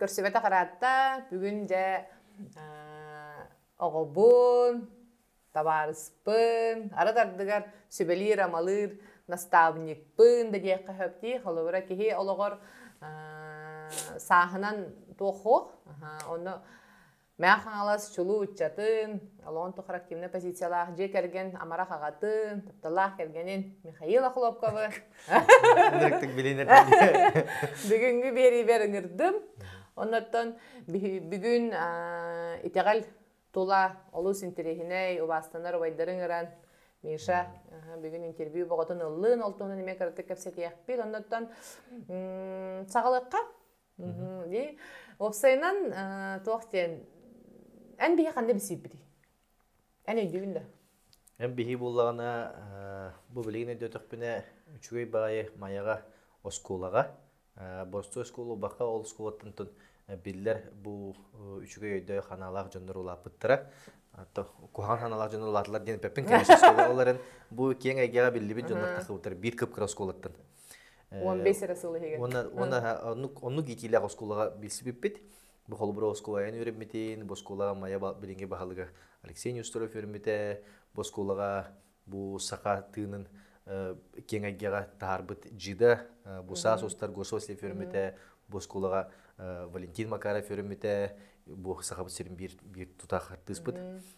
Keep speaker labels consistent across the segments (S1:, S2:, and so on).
S1: көрсүбэтэх ыраатта бүгүн дьэ оҕобун табаарыспын арыт ардыгар сүбэлиир амалыыр настаабынньыкпын да диэххэ сөптүү холобура киһи олоҕор сааһынан туох онно Мэ Хаҥалас чулуу ыччатын, толоон тухары активнай позициялаах дьиэ кэргэн амарах аҕатын, тапталаах кэргэнин Михаил Охлопковы Директик билиэн бүгүҥҥү биэриибэр ыҥырдым. Оннуттан бүгүн итэҕэл тула олус интэриэһинэй убаастанар убайдары ыҥыран Миша бүгүн интервью боҕотун ыллын, ол туһунан эмиэ кыратык кэпсэтиэхпит. Оннуттан саҕалыахха. Уопсайынан туох диэн эн биһи ханна билсииппитий? Эн өйдүүгүн да? Эн биһи буоллаҕына бу билигин өйдөөтөхпүнэ үчүгэй баҕайы Майаҕа оскуолаҕа боростуой оскуола убаха ол оскуолаттан биллэр бу үчүгэй өйдөөх санаалаах дьоннор улааппыттара куһаҕан санаалаах дьоннор улааталлар диэн эппиппин ол эрэн бу киэҥ эйгэҕэ биллибит дьоннор тахсыбыттара биир кып кыра оскуолаттан он бес эрэ сыл иһигэр уонна уонна оннук оннук иитиилээх оскуолаҕа билсибиппит бу холобура оскуолайан үөрэммитин бу оскуолаҕа майа билиҥҥи баһылыга Алексей Неустроев үөрэммитэ бу оскуолаҕа бу саха тыынын киэҥ айгыҕа таһаарбыт джида бу саас устар Гососев үөрэммитэ бу оскуолаҕа Валентин Макаров үөрэммитэ бу саха сирин биир биир тутаах артыыспыт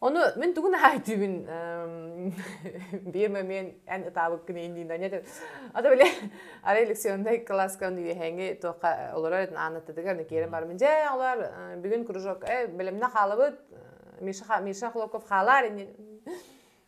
S1: Ону мин тугу наһаа өйдүүбүн биир момент эн ытаабыккын иннинэ ата били арай лекционнай кылааска үөһээҥи туохха олорор этин аанаттатыгар киирэн барамын дьэ олор бүгүн кружок э бэлэмнэ хаалабыт Миша Миша Хлопков хаалаар иннин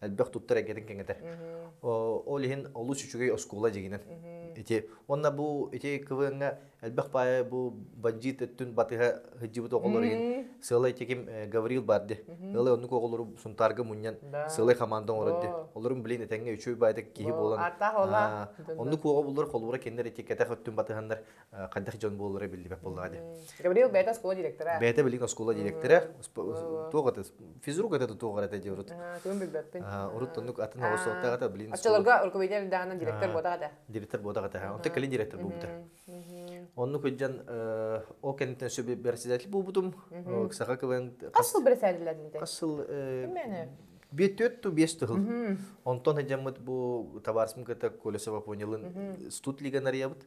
S1: элбэх туттар эйгэтин кэҥэтэр. Ол иһин олус үчүгэй оскуола дьигинен. Ити уонна бу ити квеҥҥа элбэх паайы бу бандьыыт өттүн батыһа сылай оҕолору сыалай теким э, Гаврил барды. Ылай оннук оҕолору сунтаарга мунньан сыалай команда оңорорды. Олорун билин этэҥҥэ үчүй баайда киһи болан. Оннук оҕо булар холбура кеннер этиккетах өттүн батыһаннар хайдах дьон буолара биллибэт буоллаҕа дии. Гавриил бэйэтэ оскуола директора. Бэйэтэ билигин оскуола директора. Туох это, физрук это туох это диир урут. Күн билбэппин. Урут оннук атын оҕолсуохтаҕата билин. Оччолорго руководитель даанан директор буотаҕа этэ. Директор буотаҕа этэ. Онтон кэлин директор буолбута. Оннук үлдьэн ол кэнниттэн сөп бэрэсэдэтэл буолбутум. Саха кылын. Хас сыл бэрэсэдэтэл Хас сыл Биэт төрт ту биэс тыһыл. Онтон хажаммыт бу табаарсым кыта Колесова понялын студ лига нарыябыт.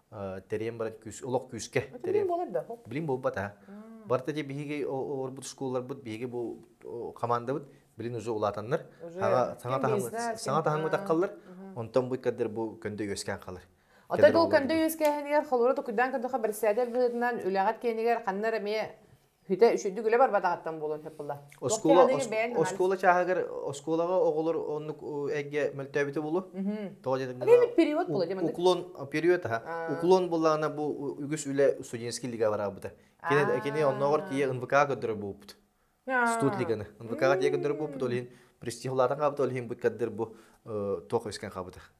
S1: Терием баран күүс, олох күүскэ. Билим буолар да? Билим буолбат а. Барта де биһиги олорбут школларбыт биһиги бу командабыт билин уже улаатаннар саҥа таһымы саҥа таһымы таххаллар онтон бу кадыр бу көндө үөскээн халар Отой бұл көндө үөскээһинигэр холура токуйдаан көрдөхө бэрсээдэр быһытынан үлэҕит киэнигэр ханна эмиэ Хүтэ үчүгдүк үлэ барбатаҕыттан буолуон сөп буолла. Оскуола оскуола чааһыгар оскуолаҕа оҕолор оннук эйгэ мөлтөөбүтү булу. Тоҕо диэтим период була дим уклон период аха. Уклон буллаана бу үгүс үлэ студенческий лига бараабыта. Кини кини оннооҕор тиийэ НВК көрдөрө бууппут. Студ лиганы. НВК тиийэ көрдөрө бууппут ол иһин престижлаатан хаабыта ол иһин быккаддыр бу тоқ өскөн хаабыта.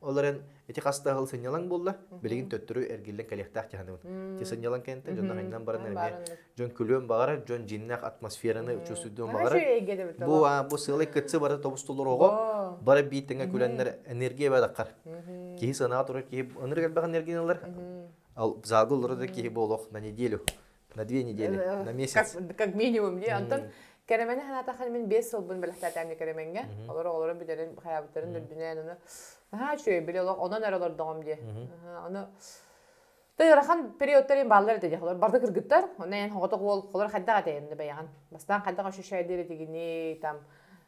S1: Ол эрэн ити хаста аһыл сынньалаҥ буолла, билигин төттөрү эргиллэн кэлиэхтээх дьаһаныбын. Ти сынньалаҥ кэнтэн дьоннор айннан баран эмиэ дьон күлүөн баҕарар, дьон дьиннээх атмосфераны учуостуйдуон баҕарар. Бу бу сыалай кытсы бары тобустулуруого, бары биир тэҥэ күлэннэр энергия бэдаххар. Киһи санаға турар киһи ынырык элбэх энергияны ылар. Ал залга олорор да киһи буолуох на неделю На две недели, э, на месяц. Как, как минимум. Дии. Онтон кэрэмэни санаатаххын мин биэс сылбын бэлэхтээтээмни кэрэмэҥҥэ. Олор оҕолору бүтэрин, хайаабыттарын үрдүнээн ону наһаа үчүгэй били олох онон эрэ олордоҕум дии. Ону Ты ырахан периодтарин бааллар это дехолор барда кыргыттар, онна ен хоготок уол колор хайдах атайын баяхан. Бастан хайдах ощущает диритигини там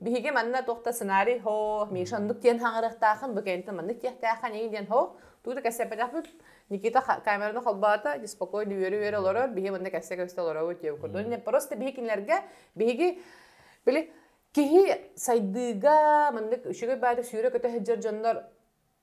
S1: Биһиги манна тохта сценарий хо Миша андык диэн хаҥырыахтаахын, быкентин маннык диэхтээххин, ии диэн хо тууда кэссэппэтахпыт. Никита камераны холбоото, спокойно үөрэ-үөрэ олорор, биһи манна кэссе-көстө олоробут диэбит курдук. Просто биһи кинилэргэ биһиги били киһи сайдыыга маннык үчүгэй баары сүүрэ көтө сылдьар дьоннор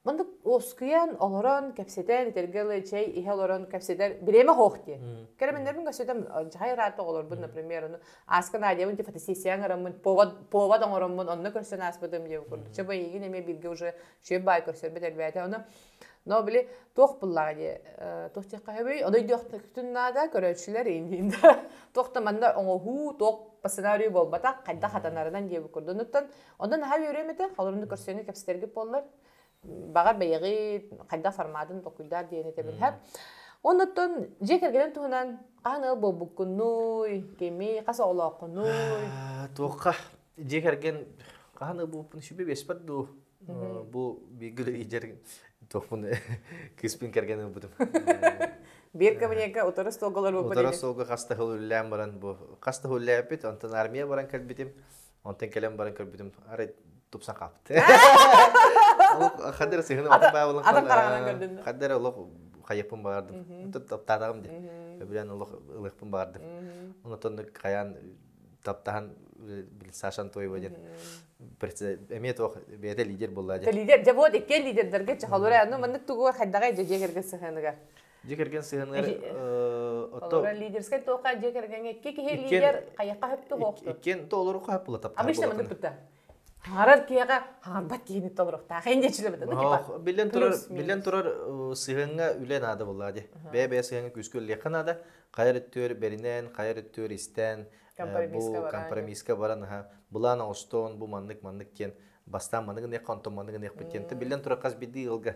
S1: Маннык уоскуйан, олорон, кэпсэтэн, итиргэ ылы чэй иһэ олорон кэпсэтэр бириэмэ оһох диэн. Кэрэмэннэрбин көрсөтөм, дьаһай ыраатта оҕолорбун, например, ону ааска наадыйабын, диэн фотосессияҕа ыҥыраммын, повод, повод оҥороммун, онно көрсөн ааспытым диэн курдук. Чэ, эйигин эмиэ бииргэ уже чүөп баай көрсөрбүт элбээтэ. Ону но били туох буллаҕа дии, туох диэххэ сөбүй, одойдиохтукутун наада, көрөөччүлэр инниин да туох да манна оҥоһуу, туох по сценарию буолбатах, хайдах хатанарынан диэбит курдук. Онуттан Онон наһаа үөрүөм этэ, холорунду көрсөөнү кэпсэтэргит буоллар. Баҕар бэйэҕи хайдах форматын толкуйдаар диэн этэбин һэп. Оннуттан дьиэ кэргэнин туһунан хаһан ыал буолбуккуннуй, кими хас оҕолооххунуй? Туохха дьиэ кэргэн хаһан ыал буолбуппун сүбэ биэспэт дуу? Бу бииргэ ийдэр туохпун кыспын кэргэн ылбытым. Биир кабинетка утары столголор буолбут. Утары столга хас да үллээн баран бу хас да үллээппит, онтон армия баран кэлбитим. Онтон кэлэн баран көрбүтүм, арай тупсан хаалбыт. Хаддыр сыһыны атах баабылын халлара. Хаддыр олох хайыппын баардым. Таптаатаҕым дин. Өбүлэн олох ылыхпын баардым. Онтон хаян таптахан бил Саша Антоева ден эмиэ туох бэйэтэ лидер болла ден. Лидер, дьэ вот икки лидердерге чахалыра, ну маннык тугу хайдаҕай дьэ дьиэгерге сыһыаныгар. дьиэ кэргэн сыһыаныгар олорор лидерскай туохха дьиэ кэргэҥҥэ икки киһи лидер хайаха хаһыптыһыохту иккиэн толору хаһыппыла таптаах обычно маны пытта хаарар киһиэхэ хаарбат киһини толоруохтаах эн дьичилебэтэ билэн турар билэн турар сыһыаҥҥа үлэ наада боллаа ди бэйэ бэйэ сыһыаҥҥа күүскэ үллиэххэ наада хайар өттүөр бэринээн хайар өттүөр истээн бу компромисска баран аха былаан оҥостоон бу маннык маннык диэн бастаан маныгыныахха онтон маныгыныахпыт диэн билэн турар хас бирдии ыалга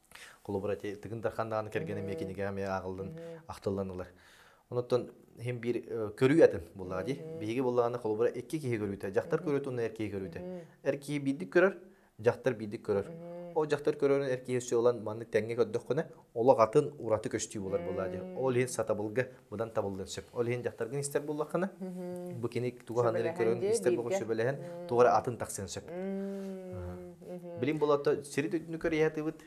S1: холобура тыгын дархан даҕаны кэргэн эмиэ кинигэ эмиэ ааҕыллан ахтыллан ылар онуттан иһин биир көрүү атын буллаҕа дии биһиги буллаҕына холобура икки киһи көрүүтэ дьахтар көрөөт уонна эр киһи көрүүтэ эр киһи биирдик көрөр дьахтар биирдик көрөр ол дьахтар көрөрүн эр киһи өссө ылан маннык тэҥҥэ көрдөххүнэ олох атын ураты көстүү болар буоллаҕа дии ол иһин сатабылга быдан табыллыан сөп. Ол иһин дьахтаргын истэр буллаххына, бу кини тугу аһынарын көрөн истэр боҕун сөбүлэһэн, тоҕо эрэ атын тахсыан сөп. Билим болото сири дүннү көрүйэтибит,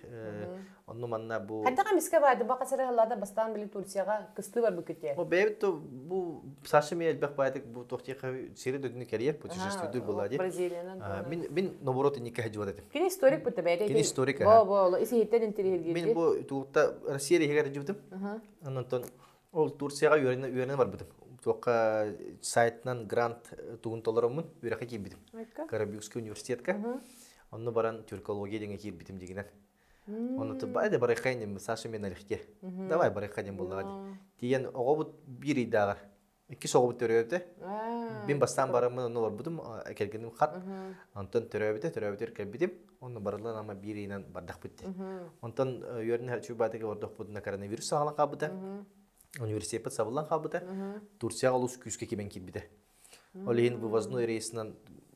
S1: онну манна бу... Хайдаҕа мискэ баар, дубака сырыһыллада бастаан били Турцияга кыстыы бар бүккүтте. О бэйбит то бу Саша ми элбэх байтык бу тохтиха сири дүннү керьер путешествуйдур была дит. Бразилиянан. Мин мин ноборот инникке хажуат этим. Кини историк бу табе. Кини историк. Бо бо исиһиттен интервью. Мин бу тута Россия регион жибдим. Онтон ол Турцияҕа үөрэнэ үөрэнэ барбытым. Туохха сайтынан грант тугун толороммун үөрэххэ киирбитим. Карабюкский университетка. Онно баран тюркология диэҥҥэ киирбитим дигинэн. Оны тыбай да барайхай ним Саша мен алехте. Давай барайхай ним боллага ди. Тиен оҕобут биир ыйдааҕар иккис оҕобут төрөөбүтэ мин бастаан бараммын онно олорбутум кэргэним хат онтон төрөөбүтэ төрөөбүтүгэр кэлбитим онно барылын ама биир ыйынан бардахпыт онтон үөрнэ чубатыга ордохпутуна коронавирус саҕалан хаалбыта университеппыт сабыллан хаалбыта турцияҕа олус күүскэ кимэн киирбитэ ол иһин вывозной рейсынан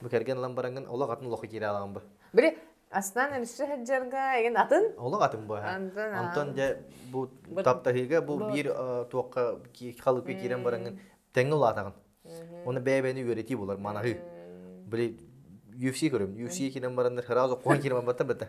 S1: Бу кэргэн ылан бараҥҥын олох атын олоху киирэ аламын бу. Били астаан өлсө сылдьарга эгин атын олох атын бу Антон Антон дьэ бу таптаһыыга бу биир туохха халыпка киирэн бараҥҥын тэҥҥэ улаатаҕын. Оны бэйэбэни үөрэтии болар манаһы. Били UFC көрөм. UFC киирэн бараннар сразу куһан киирэн барбаттан бетта.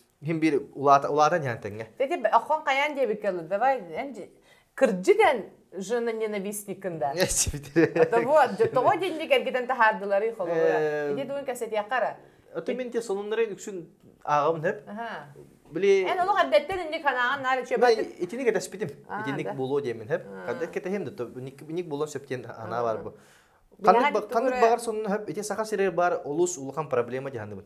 S1: Иһин биир улаата улаатан иһэн тэҥҥэ. Таки оххон хайаан диэбиккэ ылы давай кырдьык эн жена ненавистниккын да того тоҕо динди кэргитен таһаардылары хололура иди тугун кэсэтиэхара Оты мин те сонуннарын үксүн аагамын хөп. Били Эн олох эрдэттен инник ханаан наары чөбөт. Итиник этэспитим. Итиник боло диэмин хөп. Каддак кэтэһим да итиник болон сөптен ана бар бу. Ханнык баҕар сонун хөп ити саха сирер бар олус улахан проблема диханыбын.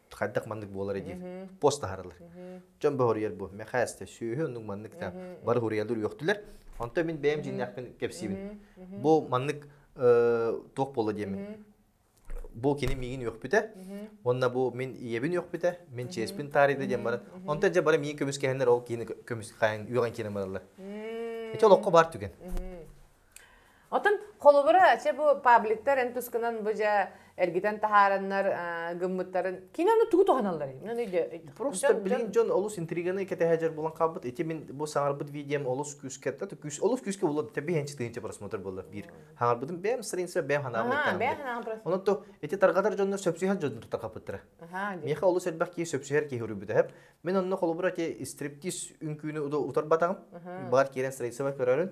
S1: хайдах маннык буолар диир пост таһарылар дьон бөһөрүйэр бу мэхээсте сүөһү оннук маннык та бары хуриялар үөхтүлэр онто мин бэйэм жиннякпын кепсибин бу маннык туох боло диэмин бу кини миигин үөхпүтэ онна бу мин ийэбин үөхпүтэ мин чиэспин таарыйда диэн баран онто же бары миин көмүс кэһэннэр ол киһини көмүс хаайын үөҕэн киирэн бараллар эти олоххо бар түгэн Отон холобура чэ бу пабликтар эн тускунан бу же эргитен таһаараннар гыммыттарын киноны тугу туһаналлар мен өйдө просто блин дьон олус интриганы кэтэһэжэр булан хаалбыт эти мин бу саңарбыт видеом олус күүскэ олус күүскэ булар тэби хенчитинче просмотр боллар бир хаңарбытым бэм сырынса бэм ханаамыттан ону то эти таргатар дьоннор сөпсүһэр дьоннор тақапыттыра меха олус элбэх ки сөпсүһэр ки хүрүбүтэ мен онно холобура те стриптиз үнкүүнү утарбатаҕым бар киирен сырынса көрөрүн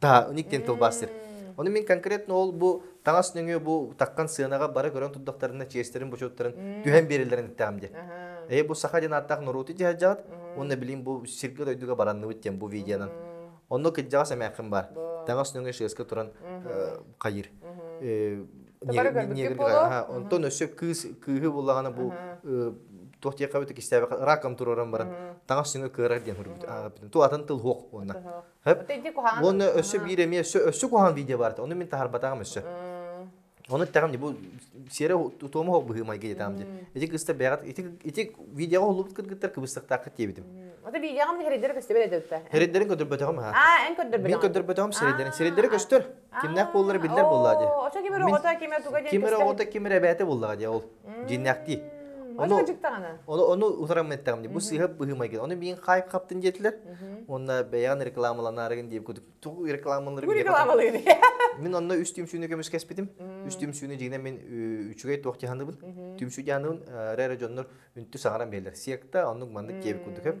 S1: Та, уник диэн тылбаастыр. Ону мин конкретно ол бу таҥас нөҥүө бу таккан сыанаҕа бара көрөн турдахтарына чиэстэрин бочуоттарын түһэн биэрэллэрин эттэҕим диэн. Аһаа. Ээ бу саха диэн ааттаах норуоту дьаһалдьаҕыт уонна билим бу сиргэ-дойдуга баранныбыт диэн бу видеонан. Онно кырдьаҕас эмээххин баар. Таҥас нөҥүө шеска туран э, хайыр. Э, Хабара ньиэгэ- көрбүккүт ньиэгэ- буолуо? аха, Онтон өссө кыыс кыыһы буллаҕына бу э, туох диэххэ бу кистээбэххэ раком туруоран баран таҥас нөҥүө кыарар диэн хөрбүт. Аахпытым. Ту атын тыл хуох уонна. Тоһоох. Уонна өссө биир эмиэ өссө өссө куһаҕан видео бар ону мин таһарбатаҕым өссө ону эттэҕим ди бу сиэрэ утуому холбуһыы майга диэтаҕым ди ити кыста бэҕэт ити ити видеоҕа уллубут кыргыттар кыбыстахтаахха диэбитим ата видеоҕам һэрэйдэрэ көстө бэрэ дэтэ һэрэйдэрин көрдөрбөтөҕүм ха а эн көрдөрбөтөҕүм мен көрдөрбөтөҕүм сирэйдэрин сирэйдэрин көстөр Кимнээх буоллар биллэр буолла дии. Очо кимир оҕото кимер туга диэн Кимир оҕото кимир эбээтэ буоллаҕа дии ол. Дьиннэхтии. Ону ожиктаҕана. Ону ону утарамыттаҕым дии. Бу сыыһа быһыыма келген. Ону миин хайып хаптын диэтилэр. Уонна бэйэҕин рекламаланаарыгын дии кудук. Тугу рекламаларыгын Бу рекламалыыны. Мин онно үс түмсүүнү көмүскэспитим. Үс түмсүүнү дьигинэн мин үчүгэй туох диханыбын. Түмсүү диханыбын рәре дьоннор үнтү саҕаран бэлэр. Секта оннук маннык киэбик кудукем.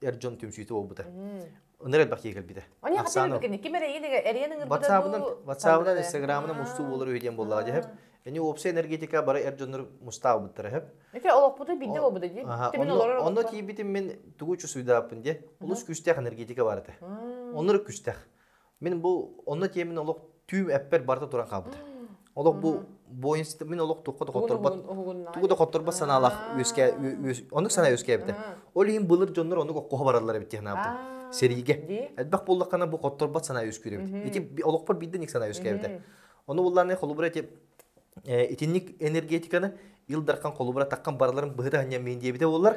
S1: эр дьон түмсүүтэ буолбута. Ынар элбэх киһи кэлбитэ. Они хотя бы ким эрэйин ватсаабынан инстаграмынан мустуу болар үһү диэн буоллаҕа дьэһэп. Ини уопса энергетика бары эр дьоннор мустаабыттар эһэп. Эке олохпута бидде болбута дии. Онно тиийбитим мен тугу чусуйдааппын дие. Улус күстээх энергетика бар этэ. Оннор күстээх. Мин бу онно тиэмин олох түүм эппэр барыта туран хаалбыта. Олох бу буойунсты мин олох тухха да хотторбот тугу да хотторбот санаалаах үөскэ оннук санаа үөскээбитэ. Ол иһин былыр дьоннор оннук оккоһо бараллар эбит диэхнаабытым. Сэриигэ. Элбэх буоллаххана бу хотторбот санаа үөскүүрөбүт. Ити олохпор бидден их санаа үөскээбитэ. Ону буллааны холубура тип итинник энергетиканы Ил Дархан холубура таққан бараларым быһыта ханньа мен диэбите боллар.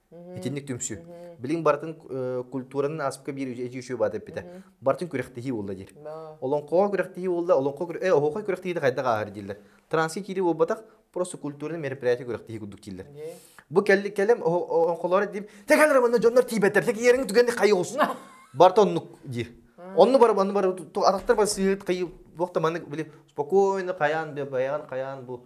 S1: Итинник түмсүү. Билиҥ барытын культураны ааспыкка биир эдьиий үчүгэй баат эппитэ. Барытын күрэхтэһии буолла диир. Олоҥхоҕо күрэхтэһии буолла, олоҥхо э оһуохай күрэхтэһиитэ хайдах ааһар дииллэр. Транска киирии буолбатах, просто культурнай мероприятие күрэхтэһии курдук дииллэр. Бу кэлли кэлэм олоҥхолоро диим, текалар манна дьоннор тиийбэттэр, текиерин түгэнник хайыгылсын. Барта оннук диир. Онну бар онну бар атахтар бар сыыт кыйы буохта маннык били спокойно хаян да баян хаян бу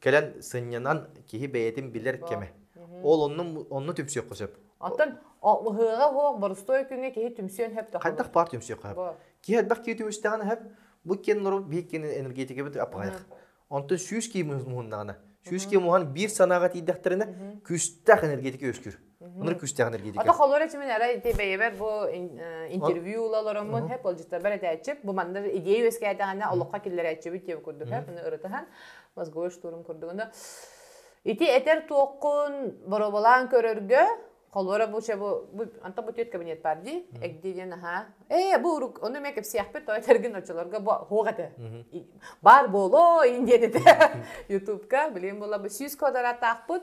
S1: кэлэн сынньанан киһи бэйэтин билэр кэмэ. Ол онну онну түмсүөххэ сөп. Оттон ыһыаҕа оһох борустуой күҥҥэ киһи түмсүөн сөп. Хайдах баар түмсүөххэ сөп. Киһи элбэх киһи түмүстэҕинэ сөп. Бу киэн нору биир киэн энергетикабыт аппаҕайх. Онтон сүүс киһи муһуннаҕына, сүүс киһи муһан биир санааҕа тиийдэхтэринэ, күстэх энергетика үөскүүр. Ыныр күстэҕин эргиитикэ. Ото холура чимин эрэ ити бэйэбэр бу интервью ула олороммут хеп олжиттарбар этээччип бу манна идея үөскээтэҕинэ олохха киллэрээччибит диэн курдук хеп аны ырытыһан мозговой штурм курдугуна ити этэр туоххун боробалаан көрөргө холура бу чэ бу антон бу тет кабинет бар ди эгди диэн аха ээ бу урук ону ме кепсиахпыт той тергин очолорго бу хугате бар боло индиэн ете ютубка билим була бу сүүс квадрат таахпыт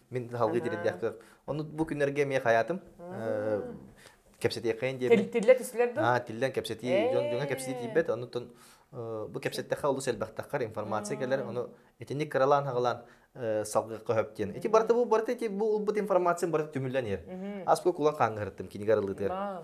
S1: Мин салгыы тириэрдиэхтэр. Ону бу күннэргэ эмиэ хайаатым. Кэпсэтиэххин диэбин. Тиллэ түслэр да? Аа, тиллэн кэпсэтии, дьоҥҥо кэпсэтии тиийбэт. Оннуттан бу кэпсэттэххэ олус элбэхтэххэр, информация кэлэр, ону итинник кыралаан-хаҕалаан салгыахха сөп диэн. Ити барыта бу барыта ити бу ылбыт информациям барыта түмүллэн иһэр. Аскука кулан хаангыһырыттым кинигэ арылытыгар.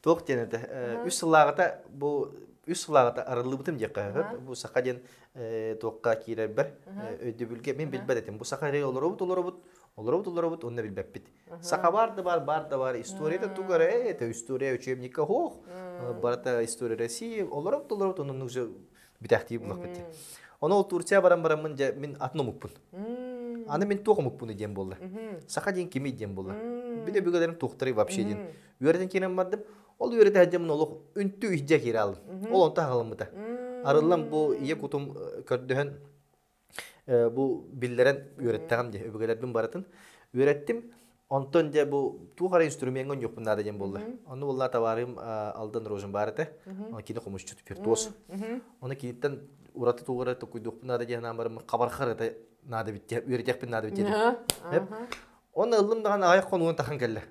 S1: Туох диэн этэ? Үс сыллааҕыта бу үс сыллааҕыта арыллыбытым диэххэ бу саха диэн туохха киирэрбэр өйдөбүлгэ мин билбэт этим. Бу саха эрэ олоробут олоробут олоробут олоробут онно билбэппит. Саха баар да баар баар да баар историята тугу эрэ это история учебника ох барыта история России олоробут олоробут оннук же бүтээхтии буллахпыт. Оны ол Турция баран бараммын же мин атын омукпун. Аны мен туох омукпун диэн болла. Саха диэн кими диэн болла. Биле бүгөлөрüm тухтары вообще диэн үөрэтэн киирэн бардым ол үөрэтээччим олох үнтү иһдьэ киирэ алдым ол онто аһаламмыта арыллам бу ийэ кутум көрдөһөн бу биллэрэн үөрэттэҕим дии өбүгэлэрбин барытын үөрэттим онтон дьэ бу туох эрэ инструмеҥҥа онньуохпун наада диэн буолла ону буолла табаарым алдан рожен бар этэ оны кини хомусчут виртуоз оны киниттэн ураты туора тукуйдуохпун наада диэн анаан барыммын хабархар это наада битти үөрэтэхпин наада битти эп оны ыллым даҕан аҕайах хонугун тахан кэллэ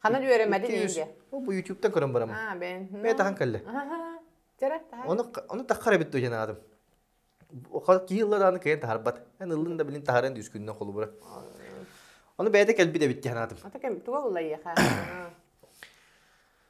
S1: Ханан үөрэммэдин иигэ? Бу ютубта көрөн барамын. Аа, бэйэн. Бэйэ тахан кэллэ. Жара, тахан. Оны оны таххара бит туйан аадым. Киһыллар ааны кэйэн таһарбат. Эн ыллын да билин таһаран дүйскүннөн холубура. Оны бэйде кэлбит эбит тиһан аатым. Ата кем туга уллайыха?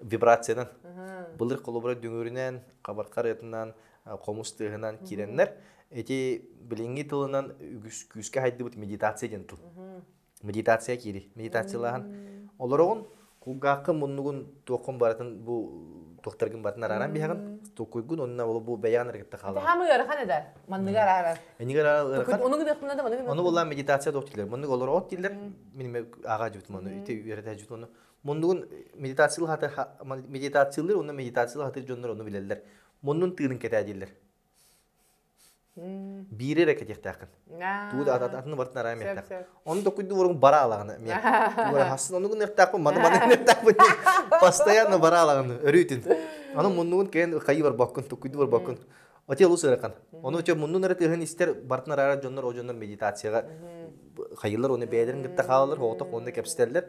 S1: вибрациянан былыр холобура дүҥүрүнэн хабархар ытынан хомус тыаһынан киирэннэр ити билиҥҥи тылынан үгүс күүскэ хайдыбыт медитация диэн тыл медитация киири медитациялааһын олороҕун кулгаахкын муннугун туоххун барытын бу туохтаргын барытын арааран биһаҕын тукуйгун онно бу бэйэҕин эрэ кытта хаалар хаама ыарахан эдэр манныгы араарар энигер ыарахан онугу диэхпинэ да манныгы ону буллаан медитация доктирлер маннык олороҕут дииллэр мин ааҕа жибит мону ити үөрэтэ жибит ону Муннугун медитациялы хатар медитациялыр онно медитациялы хатыр дьоннор ону билэллэр. Муннун тыынын кэтээ дииллэр. Биири эрэ кэтиэхтээххин. Туу да атаны бартын араа миэхтээх. Ону докуйду боругун бара алаганы мен. Тугара хасын ону гынертаакпын, маны маны гынертаакпын. Постоянно бара алаганы өрүүтүн. Аны муннугун кээн хайы бар боккун, тукуйду бар боккун. Отел усыракан. Оны өтө муннун эрэ тыһын истер бартын араа дьоннор о дьоннор медитацияга хайылар оны бэйдерин гытта хаалар, хооток онна кепстеллер.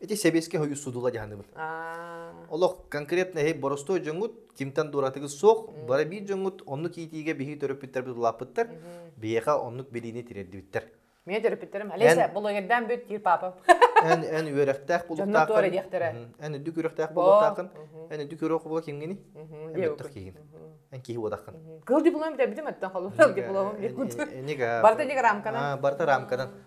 S1: Ити сэбиэскэй хойуу судула дьаһаныбыт. Олох конкретно эһи боростой дьонгут, кимтен дуратыгы суох, бара биир дьонгут оннук иитиигэ биһи төрөппүттэрбит улааппыттар, биһиэхэ оннук билиини тириэрдибиттэр. Мен төрөппүттэрим алиса булугердан бүт тиир папам. Эн эн үөрөхтээх булуктаахын. Эн үрдүк үрөхтээх булуктаахын. Эн үрдүк үрөх була кимгини? Эбэттэх киһин. Эн киһи уадахын. Кыл диплом битен битим аттан холу. Кыл дипломом. Барта неге рамкадан. Барта рамкадан.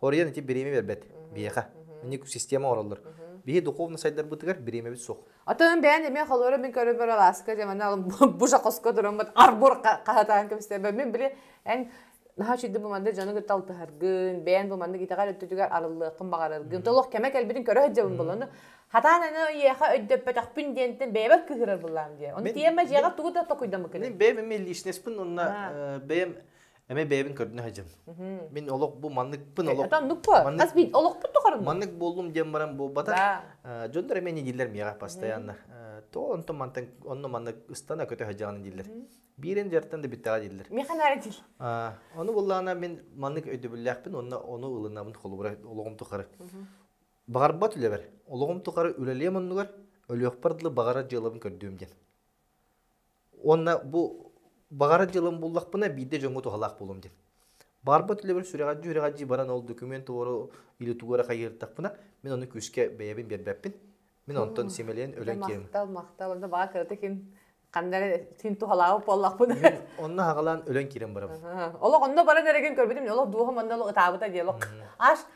S1: Оройуон ити бириэмэ биэрбэт. Биһиэхэ. Инник система оҥороллор. Биһи духовно сайдарбытыгар бириэмэбит суох. Атын бээн эмиэ холоро мин көрө бөр алааска дьамана бу жакоска тураммыт арбур хаһатаан кэбистебе мин били эн наһаа чүйдө бу манды дьону кытта алтыһаргын бээн бу манды гитаҕар өттүтүгэр арыллыаххын баҕараргын толох кэмэ кэлбитин көрө сылдьабын болону хатаан аны үйэхэ өйдөппөтөхпүн диэнтен бэйэбэт кыһырар буллаам диэ оны тиэмэ дьиэҕэ тугу да токуйдамы кэлин бэйэм эмиэ личностпын онна бэйэм Эме бэйэбин көрдүнэ сылдьым. Мин олох бу манныкпын олох маннык хас мин олохпут тухарым маннык буоллум диэн баран буолбатах дьоннор эме не дииллэр миэҕэ постоянно то онто мантан онно маннык ыстана көтө сылдьаҕын дииллэр биирин дьартан да бүттэҕэ дииллэр механара дил ону буллаана мин маннык өйдөбүллээхпин онно ону ылынабын холобура олоҕум тухары баҕарбат үлэбэр олоҕум тухары үлэлиэм оннугар өлүөхпэр дылы баҕарар дьыалабын көрдүөм диэн Уонна бу баҕара дьылым буллахпына биирдэ дьоҥҥо туһалаах буолуом диэн. Барбыт үлэбэр сүрэҕэлдьии-үрэҕэлдьии баран ол документ туору илиитугар хайыыртахпына мин оны күүскэ бэйэбин биэрбэппин. Мин онтон симэлийэн өлөн киирим. Махтал, махтал. Онно баҕа кыратык хин ханна эрэ хин туһалаабыт буоллахпына. Мин онно хаҕалаан өлөн киирэн барабын. Олох онно баран эрэгин көрбүтүм, олох дууһам онно олох ытаабыта диэн. Аш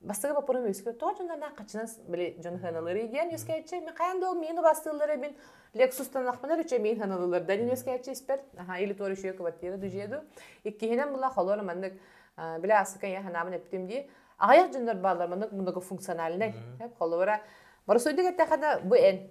S1: бастакы боппурум үөскүүр тоҕо дьонноннаах хаччынас били дьон сыаналыырый диэн үөскээччи мен хайаан да ол миин убастыыллар эбин лексустанахпынар үчэ миин саналылар да үөскээччи испэр аха или туор үшүө квартира дужеду иккиһинэн була холор маннык биле асыка я ханаабын эптим дии аҕыйах дьоннор бааллар маннык многофункциональнай холобура боросуйдук эттэхэ да бу эн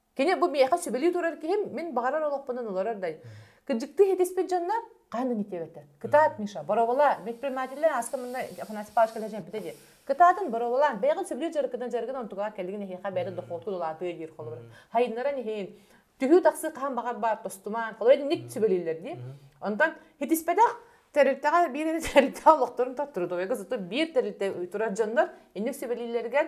S1: Кини бу миэхэ сүбэлии турар киһим, мин баҕарар олохпунан олорор дай. Кырдьыктыы итиспит дьоннор хаһан инитиэбэттэр. Кытаат, Миша, боровала, предпринимателлэр аска манна Афанасий Павлович кэлэ дьэмпитэ диир. Кытаатын боровала, бэйэҕин сүбэлии дьарыккынан дьарыгын онтугар кэлигин эһиэхэ бэйэтэ дохуоту улаатыа диир холобур. Хайыннаран иһин, түһүү тахсыы хаһан баҕар баар тостуман, холобур ник сүбэлииллэр дии. Онтон хитиспэтэх тэрилтэҕэ биир эрэ тэрилтэҕэ олохторун тоттуру тойго сытыр биир тэрилтэ турар дьоннор инник сүбэлииллэригэр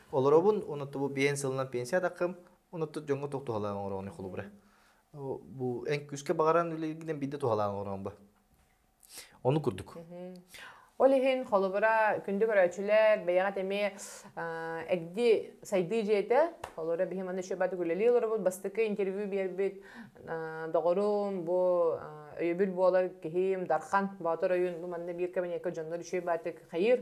S1: Олоробун унуттубу биһэн сылынан пенсия тақым, унутту дьоҥҥо тохтуһалаан оҥороҕун холубура. Бу эн күскэ баҕаран үлэлгинен бидde тухалаан оҥорон ба. Ону курдук. Ол иһин холобура күндү көрөөчүлэр бэйэҕит эми эгди сайдыы дьиэтэ холобура биһи маны шөбат гүләли олоробут бастыкы интервью биэрбит доҕорум бу өйөбүл буолар киһим дархан боотор ойун бу манна биир кабинетка дьоннор үчүй баатык хайыр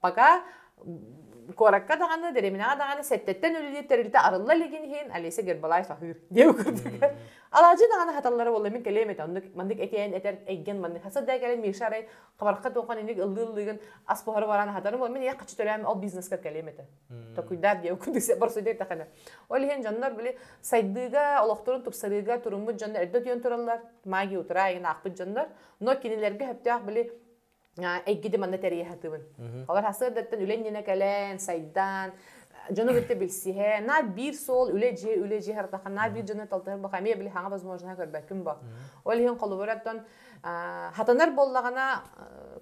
S1: пока куоракка даҕаны, дэриэбинэҕэ даҕаны сэттэттэн үлэлиир тэрилтэ арылла илигин иһин Олеся Гербалаев аһыыр диэ үкүрдүлэр. Алаадьы даҕаны хаталлара буолла мин кэлиэм этэ оннук маннык этиэн этэр эйгэн маннык хаса да кэлин Миша арай хабарха туоххан иник ыллыы ыллыгын ас буһары баран хатары буол мин ийэ хаччы төрөөм ол бизнеска кэлиэм этэ токуйдаар диэ үкүрдү борсуйда тахана ол иһин дьоннор били сайдыыга олохторун тупсарыыга туруммут дьоннор эрдэ түйэн тураллар магия утура айын аахпыт дьоннор но кинилэргэ хөптөөх били эйгиди манна тэрийэ сатыбын. Олор хасыардаттан үлэн нина кэлэн, сайдан, дьону кытта билсиһэ, на биир суол үлэ дьиэ үлэ дьиэ хартахан на биир дьону талтыһар боха эмиэ били хаҥа возможно көрбөккүн бо ол иһин холобур оттон хатанар буоллаҕына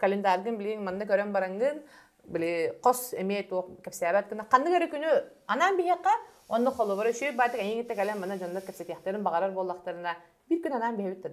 S1: календаргын билиҥ манна көрөн барангын били хос эмиэ туох кэпсээбэт гына ханнык эрэ күнү анаан биһиэхэ онно холобур үчүгэй баатык эйиҥитэ кэлэн манна дьоннор кэпсэтиэхтэрин баҕарар буоллахтарына bir gün anam bir hütte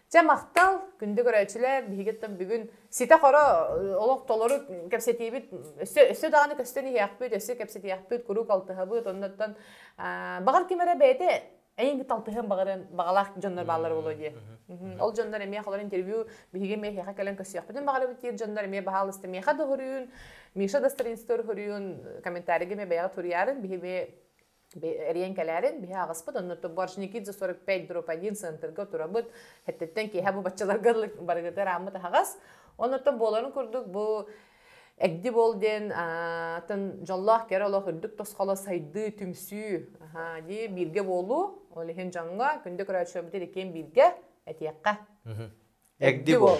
S1: Дьэ, махтал. Күндү көрөөччүлэр, биһиги оттон бүгүн ситэ-хоро олох толору кэпсэтиибит өссө өссө даҕаны көстөн иһиэхпит, өссө кэпсэтиэхпит, куруук алтыһабыт. Оннуттан баҕар ким эрэ бэйэтэ эйиҥ алтыһыан баҕарыан баҕалаах дьоннор бааллара буолуо дии. Ол дьоннор эмиэ холор интервью биһиги эмиэ эһиэхэ кэлэн көрсүөхпүтүн баҕарабыт диир дьоннор эмиэ баһаалыста миэхэ да хоруйун, Миша да страницатыгар хоруйун комментарийга эмиэ бэйэҕэ туруйаарын биһи эмиэ эрийэн кэлээрин биһи аҕаспыт оннутту Боржникидзе 45 дробь 1 центрга турабыт хэттиттэн киһи бу баччаларга барыгыты араммыт аһаҕас онуттан буоларын курдук бу эгди бол диэн атын дьоллоох кэрэ олох үрдүк тосхоло сайдыы түмсүү дии бииргэ буолуу ол иһин дьоҥҥо күндү көрөөччүбүтү иккиэн бииргэ этиэххэ эгди бол